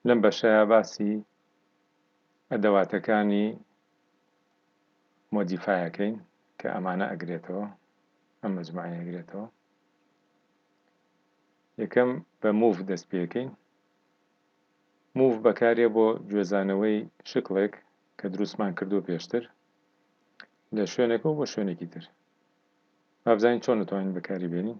لەم بەشەیا باسی ئەدەواتەکانی مۆدیفای ئەکەین کە ئەمانە ئەگرێتەوە ئەم مجموعەیە ئەگرێتەوە یەکەم بە موڤ دەست پێکەین موڤ بەکارێ بۆ گوێزانەوەی شکڵێک کە دروستمان کردو پێشتر لە شوێنەکە بۆ شوێنێکی تر بابزانین چۆن دەتوانین بەکاری بێنین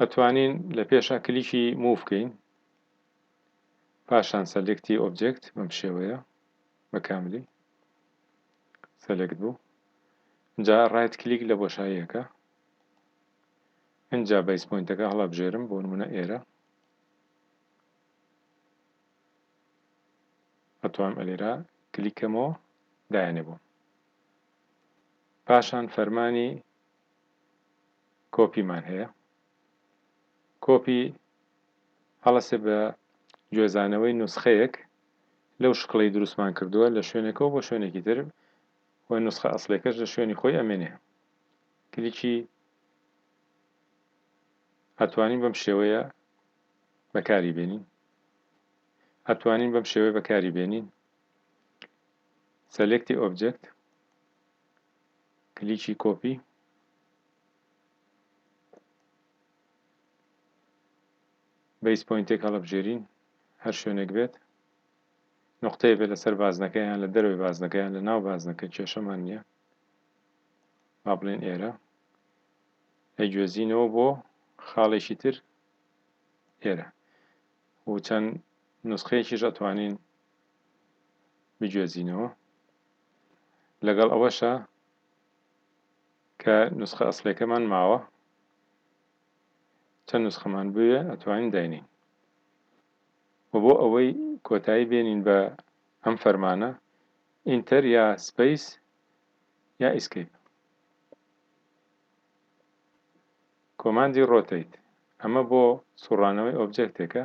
ئەتوانین لە پێشا کلیکی موو بکەین پاشان سەلێکتی ئۆبجێکت بەم شێوەیە بە کاملی سەلێکت بوو جا ڕایت کلیک لە بۆشاییەکە ئینجا بەیس پۆینتەکە هەڵەبژێرم بۆ نمونە ئێرە ئەتوانم ئەلێرا کلیکەمەوە دایانێ بۆم پاشان فەرمانی کۆپی مان هەیە کۆپی هەڵەسێ بە گوێزانەوەی نوسخەیەک لەو شکڵەی دروستمان کردووە لە شوێنەکەەوە بۆ شوێنێکی تر و نوسخە ئەسلێکەش لە شوێنی خۆی ئەمێنێ کلیکی ئەتوانین بەم شێوەیە بەکاری بێنین ئەتوانین بەم شێوەیە بەکاری بێنین سەلێکتی ئۆبجێکت کلیکی کۆپی بەیس پۆینتێک هەڵەبژێرین هەر شوێنێک بێت نقطەیە بێت لەسەر بازنەکە یان لە دەرەوەی بازنەکە یان لە ناو بازنەکە کێشەمان نییە با بڵێن ئێرە ئەیگوێزینەوە بۆ خاڵێکی تر ئێرە و چەند نسخەیەکیش ئەتوانین بگوێزینەوە لەگەڵ ئەوەشا کە نوسخە ئەسڵیەکەمان ماوە چەند نوسخەمان بوێ ئەتوانین داینێین و بۆ ئەوەی کۆتایی بێنین بە ئەم فەرمانە ئینتەر یا سپەیس یا ئیسکەیپ کۆماندی ڕۆتەیت ئەمە بۆ سوڕانەوەی ئۆبجێکتێکە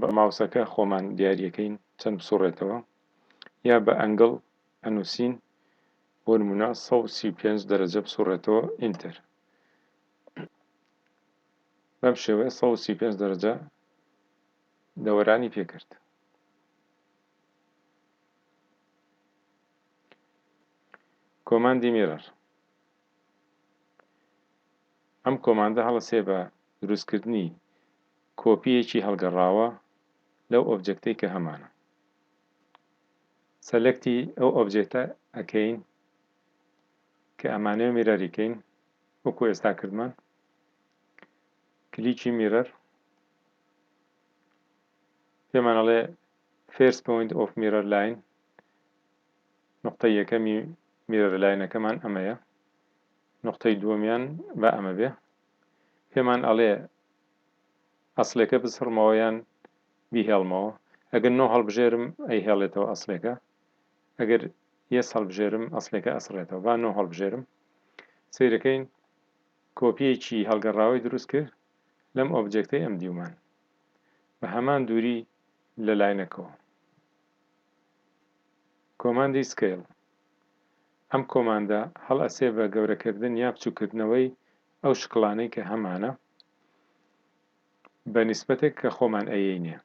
بە ماوسەکە خۆمان دیاریەکەین چەند بسوڕێتەوە یا بە ئەنگڵ ئەنوسین بۆ نمونە سەد و سی و پێنج دەرەجە بسوڕێتەوە ئینتەر بەم شێوەیە سەد و سی و پێنج دەرەجە دەوەرانی پێکرد کۆماندی میرەر ئەم کۆماندە هەڵەسێ بە دروستکردنی کۆپییەکی هەڵگەڕاوە لەو ئۆبجێکتەی کە هەمانە. سەلەکتی ئەو ئۆبجێکتە ئەکەین کە ئەمانەوێ میرەری کەین وەکو ئێستا کردمان کلیکی میرەر پێمان ئەڵێ فێرس پۆینت ئۆف میرەر لاین نقطە یەکەمی میرەر لاینەکەمان ئەمەیە نقطەی دووەمیان با ئەمە بێ پێمان ئەڵێ ئەسڵێکە بسڕمەوە یان بیهێڵمەوە، ئەگەر نۆ هەڵبژێرم ئەیهێڵێتەوە ئەسڵێکە، ئەگەر یەس هەڵبژێرم ئەسڵێکە ئەسڕێتەوە، با نۆ هەڵبژێرم. سەیرەکەین کۆپییەکی هەڵگەڕاوەی دروست کرد لەم ئۆبجێکتەی ئەم دیومان بە هەمان دووری لە لاینەکەوە. کۆماندی Scale ئەم کۆماندە هەڵئەسێ بە گەورەکردن یا بچوککردنەوەی ئەو شکڵانەی کە هەمانە بە نیسبەتێک کە خۆمان ئەیەینێ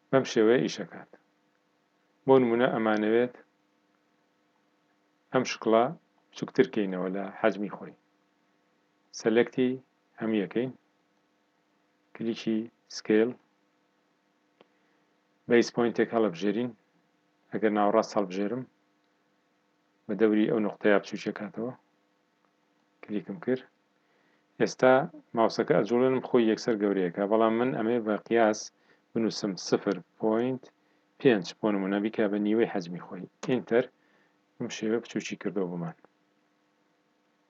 بەم شێوەیە ئیشەکات بۆ نمونە ئەمانەوێت ئەم شکڵە بچوکتر کەینەوە لە حەجمی خۆی سەلەکتی هەمویەکەین کلیکی سکیل بەیس پۆینتێک هەڵەبژێرین ئەگەر ناوەڕاست هەڵبژێرم بە دەوری ئەو نوقتەیە بچووکێ کاتەوە کلیکم کرد ئێستا ماوسەکە ئەجوڵێنم خۆی یەکسەر گەورەیەکە بەڵام من ئەمێ بە قیاس بنووسم سفر پۆینت پێنج بۆ نمونە بیکە بە نیوەی حەجمی خۆی ئینتەر بم شێوە بچووکی کردەوە بۆمان